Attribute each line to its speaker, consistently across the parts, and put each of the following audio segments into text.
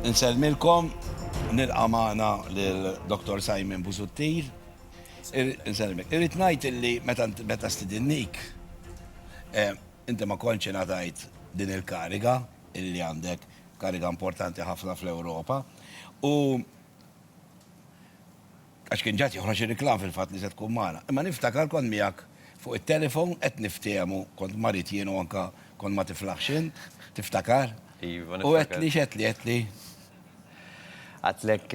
Speaker 1: Insellmilkom, nilqa' magħna lil Dottor Simon Busuttil. Insellmik. Irrid ngħid illi meta meta stidinnik eh, inti ma kontx ingħatajt din il-kariga illi għandek kariga importanti ħafna fl-Ewropa. U Għax kien ġad joħroġ ir-riklam fil-fatt li se tkun magħna. Imma niftakar kont miegħek fuq it-telefon qed niftehmu, kont marid jien u anke kont ma tiflaħx int, tiftakar? Iva, niftakar. U
Speaker 2: għedtli x'għedtli,
Speaker 1: għedtli?
Speaker 2: Għedtlek,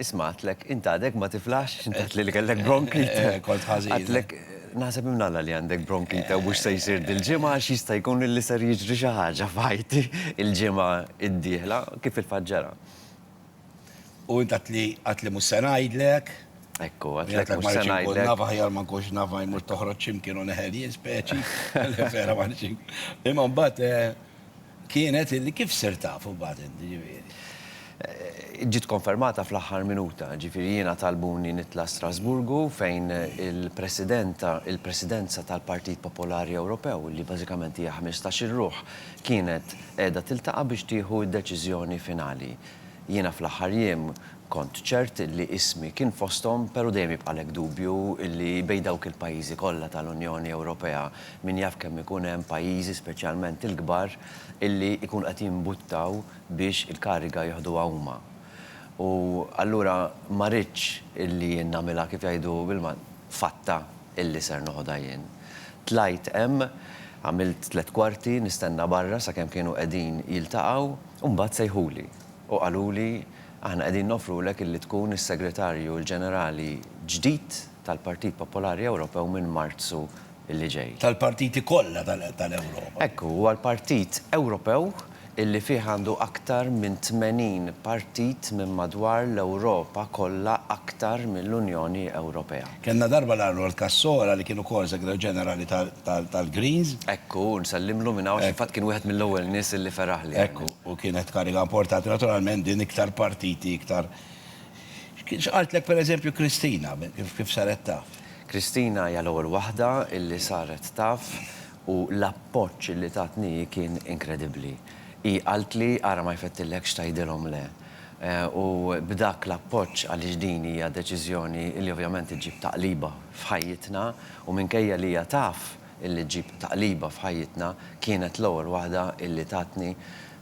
Speaker 2: isma' għedtlek, int għadek ma tiflaħx, x'int għedtli li kellek bronkite? Kont ħażin. Għedtlek,
Speaker 1: naħseb
Speaker 2: imnalla li għandek bronkite u mhux se jsir dil-ġimgħa għax jista' jkun li ser jiġri xi ħaġa f'ħajti il-ġimgħa d-dieħla, kif fil-fatt ġara.
Speaker 1: U int għadt li għadt li mhux se ngħidlek. Hekk hu, għadt
Speaker 2: li mhux se ngħidlek. Naf aħjar ma nkunx
Speaker 1: naf ma jmur toħroġ x'imkien u neħel jien speċi. Vera ma nix. Imma mbagħad kienet illi kif sirt taf imbagħad int, ġifieri?
Speaker 2: Ġiet konfermata fl-aħħar minuta, ġifieri jiena talbuni nitla' Strasburgu fejn il-Presidenta, il-Presidenza tal-Partit Popolari Ewropew, li bażikament hija ħmistax-il ruħ, kienet qiegħda tiltaqa' biex tieħu d-deċiżjoni finali. Jiena fl-aħħar jiem kont ċert li ismi kien fosthom pero' dejjem jibqalek dubju li bejn dawk il-pajjiżi kollha tal-Unjoni Ewropea min jaf kemm ikun hemm pajjiżi speċjalment il-kbar illi jkunu qed jimbuttaw biex il-kariga jiħduha huma u allura ma ridtx illi jien nagħmilha kif jgħidu bil-Malti fatta illi ser noħodha jien. Tlajt hemm għamilt tliet kwarti nistenna barra sakemm kienu qegħdin jiltaqgħu. U mbagħad sejħuli u qaluli, Aħna qegħdin noffrulek illi tkun is-Segretarju l-Ġenerali ġdid tal-Partit Popolari Ewropew minn Marzu li ġej. Tal-partiti kollha
Speaker 1: tal-Ewropa. Hekk hu, huwa l-partit
Speaker 2: Ewropew illi fih għandu aktar minn 80 partit minn madwar l-Ewropa kollha aktar mill-Unjoni Ewropea. Kellna darba l-Arnold
Speaker 1: Cassora li kien ukoll Segretarju Ġenerali tal-Greens. Hekk hu,
Speaker 2: nsellimlu minn hawn, xi fatt kien wieħed mill-ewwel nies illi feraħli. Hekk hu, u kienet
Speaker 1: kariga importanti. Naturalment din iktar partiti, iktar X'qaltlek per eżempju Kristina, kif saret taf? Kristina hija l-ewwel
Speaker 2: waħda illi saret taf u l-appoġġ illi tatni hi kien inkredibbli. Hi qaltli ara ma jfettillekx tgħidilhom le. u b'dak l-appoġġ għaliex din hija deċiżjoni li ovvjament iġġib taqliba f'ħajjitna u minkejja li hija taf illi ġġib taqliba f'ħajjitna kienet l-ewwel waħda illi tatni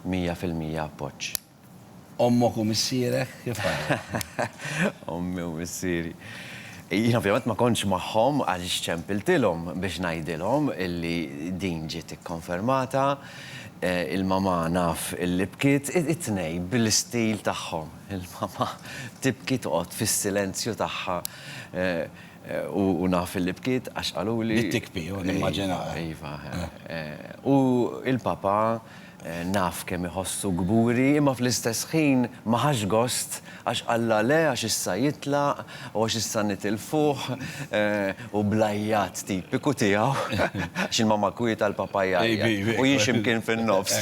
Speaker 2: mija fil-mija appoġġ. Ommok
Speaker 1: u missierek kif ħadu?
Speaker 2: Ommi u missieri. Jien ovvjament ma kontx magħhom għaliex ċempiltilhom biex ngħidilhom illi din ġiet ikkonfermata. Il-mamà naf illi bkiet, it-tnej bil-istil tagħhom. Il-mamà tibki toqgħod fis-silenzju tagħha u naf illi bkiet għax qaluli. Bdiet tikbi u nimmaġinaha.
Speaker 1: Iva.
Speaker 2: U l-papà naf kemm iħossu kburi imma fl-istess ħin ma ħax gost Għax Alla le, għax issa jitlaq, u għax issa nitilfuh, u bl-għajjat tipiku tiegħu, għax il-mamma kwieta l-papa jgħajjat, u jien xi mkien fin-nofs.